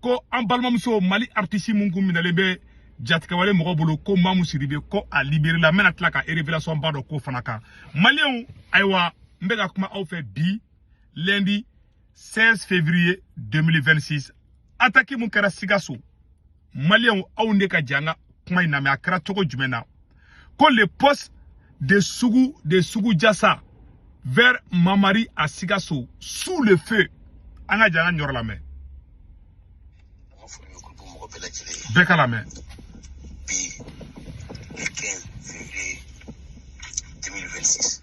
ko an balimamuso mali aritisi mun kun minɛlen bɛ jatigɛwale mɔgɔ bolo ko mamu sidibe ko a liberela n bɛna tila ka révélation ba dɔ k'o fana kan maliyɛnw ayiwa n bɛ ka kuma aw fɛ bi lundi 16 février 2026 ataki mun kɛra sikaso maliyɛnw aw ne ka jɛ an ka kuma in lamɛn a kɛra cogo jumɛn na ko le poste de sugu de sugu jasa vers mamari à sikaso sous le feu an ka jɛ an ka nin yɔrɔ lamɛn bɛɛ k'a lamɛn bi le 15 février 2026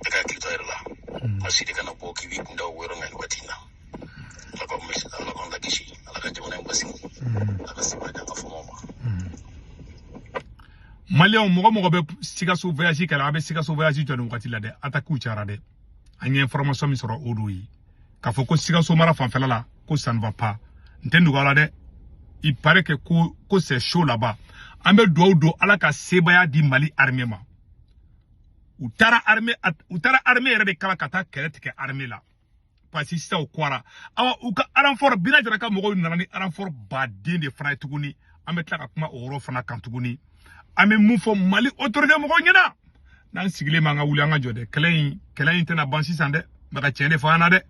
bɛɛ ka hakili to a yɛrɛ la a si de kana bɔ k'i b'i kun da o yɔrɔ la nin waati in na ala ka maa kisi ala k'a lakisi ala ka jamana in basigi ala ka sebaaya d'an ka fama ma maliyɛnw mɔgɔ mɔgɔ bɛ sikaso voyage kɛla a bɛ sikaso voyage jɔ nin wagati la dɛ atakiw cayara dɛ an ye information min sɔrɔ o don ye k'a fɔ ko sikaso mara fanfɛla la ko ça ne va pas n tɛ dugu la dɛ il paraît que ko ko c'est chaud là-bas an bɛ dugawu don ala ka sebaaya di mali armée ma u taara armée u taara armée yɛrɛ de kala ka taa kɛlɛ tigɛ armée la parce que sisan u kɔra awa u ka aranfɔr bina jara ka mɔgɔw nana ni aranfɔr baden de fana ye tuguni an bɛ tila ka kuma o yɔrɔ fana kan tuguni an bɛ mun fɔ mali autorité mɔgɔw ɲɛna n'an sigilen b'an ka wuli an ka jɔ dɛ kɛlɛ in kɛlɛ in tɛna ban sisan dɛ n bɛ ka tiɲɛ de fɔ an na dɛ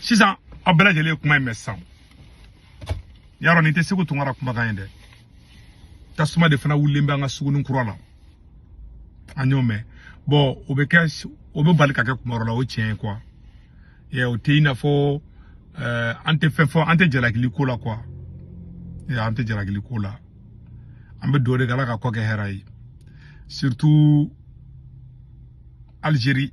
sisan aw bɛɛ lajɛlen ye kuma in mɛn sisan yarɔ nin tɛ segu tunkara kumakan ye dɛ tasuma de fana wulilen bɛ an ka sugunin kura la an y'o mɛn bon o bɛ kɛ o bɛ bali ka kɛ kuma dɔ la o tiɲɛ ye quoi ɛ o tɛ i n'a fɔ ɛɛ an tɛ fɛn fɔ an tɛ jalakili ko la quoi ɛ an tɛ jalakili ko la an bɛ dugawu de kɛ ala k'a kɔ kɛ hɛrɛ ye surtout Algérie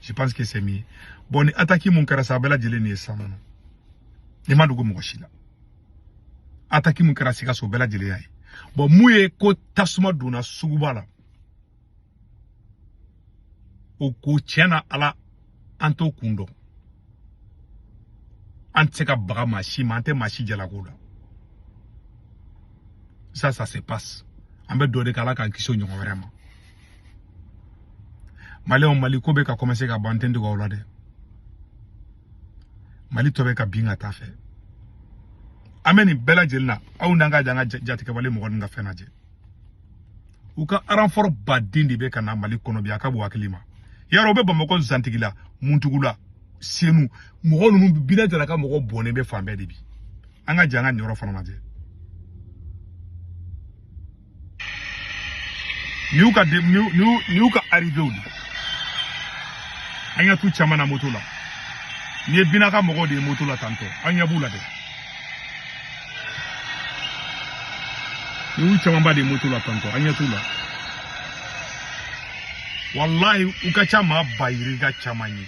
je pense que c'est mieux bon ni attaque mun kɛra sa a bɛɛ lajɛlen nin ye san kɔnɔ ni ma dogo mɔgɔ si la attaque mun kɛra sikaso o bɛɛ lajɛlen y'a ye bon mun ye ko tasuma donna suguba la o ko tiɲɛ na ala an t'o kun dɔn an tɛ se ka baga maa si ma an tɛ maa si jalak'o la ça ça se passe an bɛ dugawu de kɛ ala k'an kisi o ɲɔgɔn wɛrɛ ma maliyɛnw mali ko bɛ ka kɔmanse ka ban tɛ dɔgɔ o la dɛ mali tɔ bɛ ka bin ka t'a fɛ an bɛ nin bɛɛ lajɛlen na aw n'an ka jɛ an ka jatigɛwale mɔgɔ ninnu ka fɛn lajɛ u ka aranfɔrɔ baden de bɛ ka na mali kɔnɔ bi a ka bɔ hakili ma yarɔ u bɛ bamakɔ zantigila muntugula senu mɔgɔ ninnu bina jara ka mɔgɔ bɔnnen bɛ fan bɛɛ de bi an ka jɛ an ka nin yɔrɔ fana lajɛ N'u ka n'u ka arrivéw de an ɲɛ t'u caman na moto la n'i ye bina ka mɔgɔw de ye moto la tantôt an ɲɛ b'u la dɛ n'u camanba de ye moto la tantôt an ɲɛ t'u la walahi u ka ca maa ba yirika caman ye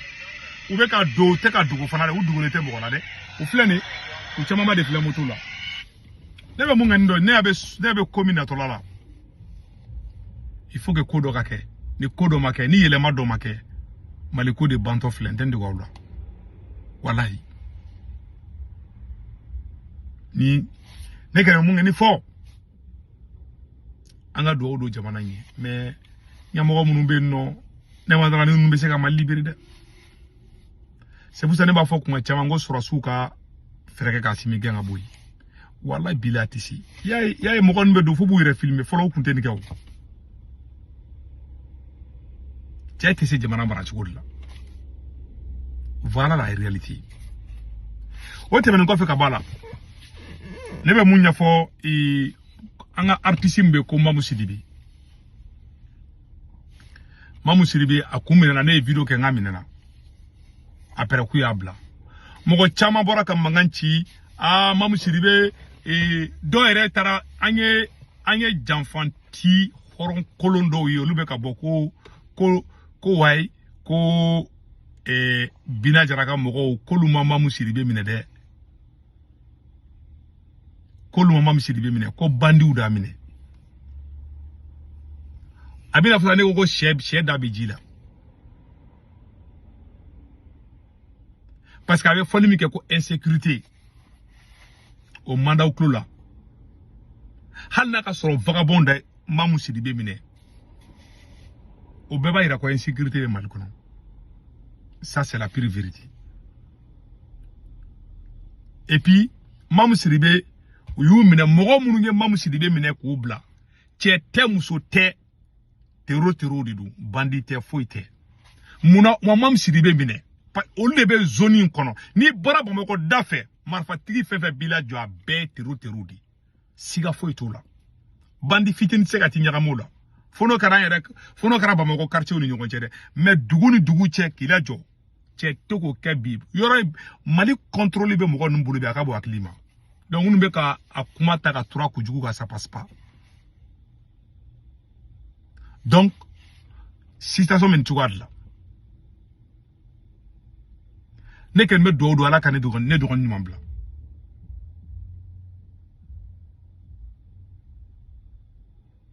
u bɛ ka don u tɛ ka dogo fana dɛ u dogolen tɛ mɔgɔ la dɛ u filɛ nin ye u camanba de filɛ moto la ne bɛ mun kɛ nin dɔ ne bɛ ne bɛ ko min natɔla la il faut que ko dɔ ka kɛ ni ko dɔ ma kɛ ni yɛlɛma dɔ ma kɛ mali ko de bantɔ filɛ n tɛ n dege aw la walayi ni ne kɛra mun kɛ ni fo an ka dugawu don jamana in ye mais ɲɛmɔgɔ minnu bɛ yen nɔ ne ma d'a ra ni ninnu bɛ se ka mali libere dɛ c'est pour ça ne b'a fɔ kuma caman ko sɔrɔdasiw ka fɛɛrɛ kɛ k'asimi gɛn ka bɔ yen walayi bilayi a tɛ se y'a ye y'a ye mɔgɔ ninnu bɛ don fo b'u yɛrɛ filime fɔlɔ u tun tɛ nin kɛ o cɛ tɛ se jamana mara cogo de la voilà la réalité o tɛmɛnen kɔfɛ ka bɔ a la ne bɛ mun ɲɛfɔ an ka artiste min bɛ ko mamu sidibe mamu sidibe a kun minɛna ne ye video kɛ n k'a minɛna après k'u y'a bila mɔgɔ caman bɔra ka mankan ci aa mamu sidibe ee dɔw yɛrɛ taara an ye an ye janfanti hɔrɔn kolon dɔw ye olu bɛ ka bɔ ko ko ko wayi ko ee bina jara ka mɔgɔw k'olu ma mamu sidibe minɛ dɛ k'olu ma mamu sidibe minɛ ko bandiw d'a minɛ a bɛna fɔ ne ko ko sɛ sɛ da bɛ ji la parce que a bɛ fɔli min kɛ ko insécurité o man d'aw tulo la hali n'a ka sɔrɔ vagabond de mamu sidibe minɛ o bɛɛ b'a jira ko insécurité bɛ mali kɔnɔ ça c'est la pure vérité et puis mamu sidibe u y'u minɛ mɔgɔ minnu ye mamu sidibe minɛ k'u bila cɛ tɛ muso tɛ tero terow de don bandi tɛ foyi tɛ munna wa mamu sidibe minɛ olu de bɛ zoni in kɔnɔ n'i bɔra bamakɔ da fɛ marifatigi fɛn fɛn b'i lajɔ a bɛɛ tero terow de siga foyi t'o la bandi fitini tɛ se ka t'i ɲagami o la fo n'o kɛra an yɛrɛ fo n'o kɛra bamakɔ quartierw ni ɲɔgɔn cɛ dɛ mais dugu ni dugu cɛ k'i lajɔ cɛ t'o ko kɛ bi yɔrɔ mali kɔntoroli bɛ mɔgɔ ninnu bolo bi a ka bon hakili ma donc minnu bɛ ka a kuma ta ka tura kojugu ka ça passe pas donc situation min cogoya de la ne kɔni bɛ dugawu don ala ka ne dɔgɔnin ɲuman bila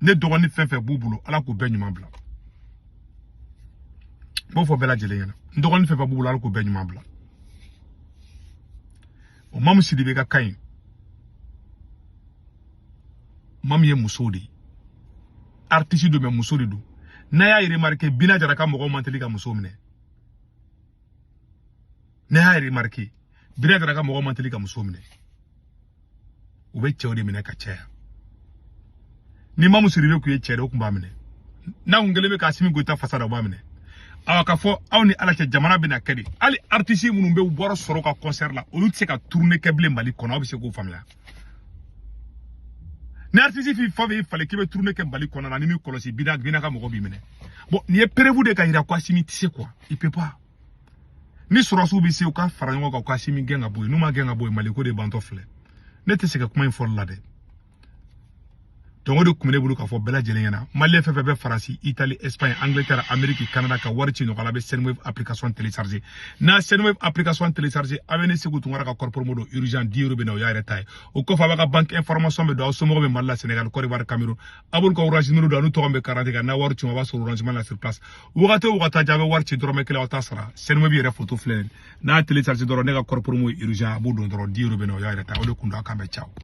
ne dɔgɔnin fɛn fɛn b'u bolo ala k'u bɛɛ ɲuman bila n b'o fɔ bɛɛ lajɛlen ɲɛna n dɔgɔnin fɛn fɛn b'u bolo ala k'u bɛɛ ɲuman bila o mamu sidibe ka kan ye mamu ye muso de ye artiste don mais muso de don n'a y'a remarqué bina jara ka mɔgɔw man teli ka muso minɛ n'a y'a remarqué bina jara ka mɔgɔw man teli ka muso minɛ u bɛ cɛw de minɛ ka caya ni mamu sidibe kun ye cɛ de o kun b'a minɛ n'a kun kɛlen bɛ k'asimi goyita fasa da o b'a minɛ awa k'a fɔ aw ni ala cɛ jamana bɛna kɛ de hali aritisi minnu bɛ wari sɔrɔ u ka kɔnsɛri la olu tɛ se ka turune kɛ bilen mali kɔnɔ aw bɛ se k'o faamuya ni aritisi fi fɔ b'i falen k'i bɛ turune kɛ mali kɔnɔna na n'i m'i kɔlɔsi bina ka mɔgɔ b'i minɛ bɔn nin ye perevu de k'a yira ko asimi tɛ se quoi il peut pas ni sɔrɔdasiw bɛ se u ka fara ɲɔgɔn kan u ka asimi gɛn ka bɔ yen n'u m'a gɛn ka bɔ yen mali ko de bantɔ filɛ ne tɛ sɛgɛn kuma in fɔli la dɛ donc o de kun bɛ ne bolo k'a fɔ bɛɛ lajɛlen ɲɛna maliyɛn fɛn fɛn bɛ faransi itali espagne angleterre ameriki canada ka wari ci nɔgɔya la a bɛ sendwave application télécharger n'a sendwave application télécharger a bɛ ne segu tunkara ka code promo don urgent dix euro bɛ na o y'a yɛrɛ ta ye o kɔfɛ a b'a ka banque information bɛɛ don aw somɔgɔ bɛ mali la senegal cote d'ivoire cameroun a b'olu ka orange numero don an'u tɔgɔ bɛ karadante kan n'a wari ci ma a b'a sɔrɔ orange la sur place wagati o wagati a bɛ wari ci dɔrɔmɛ kelen aw t'a sara sendwave yɛrɛ foto filɛ n'a télécharger dɔrɔn ne ka code promo urgent a b'o don dɔrɔn dix euro bɛ na o y'a yɛrɛ ta o de kun don a k'an bɛn ciao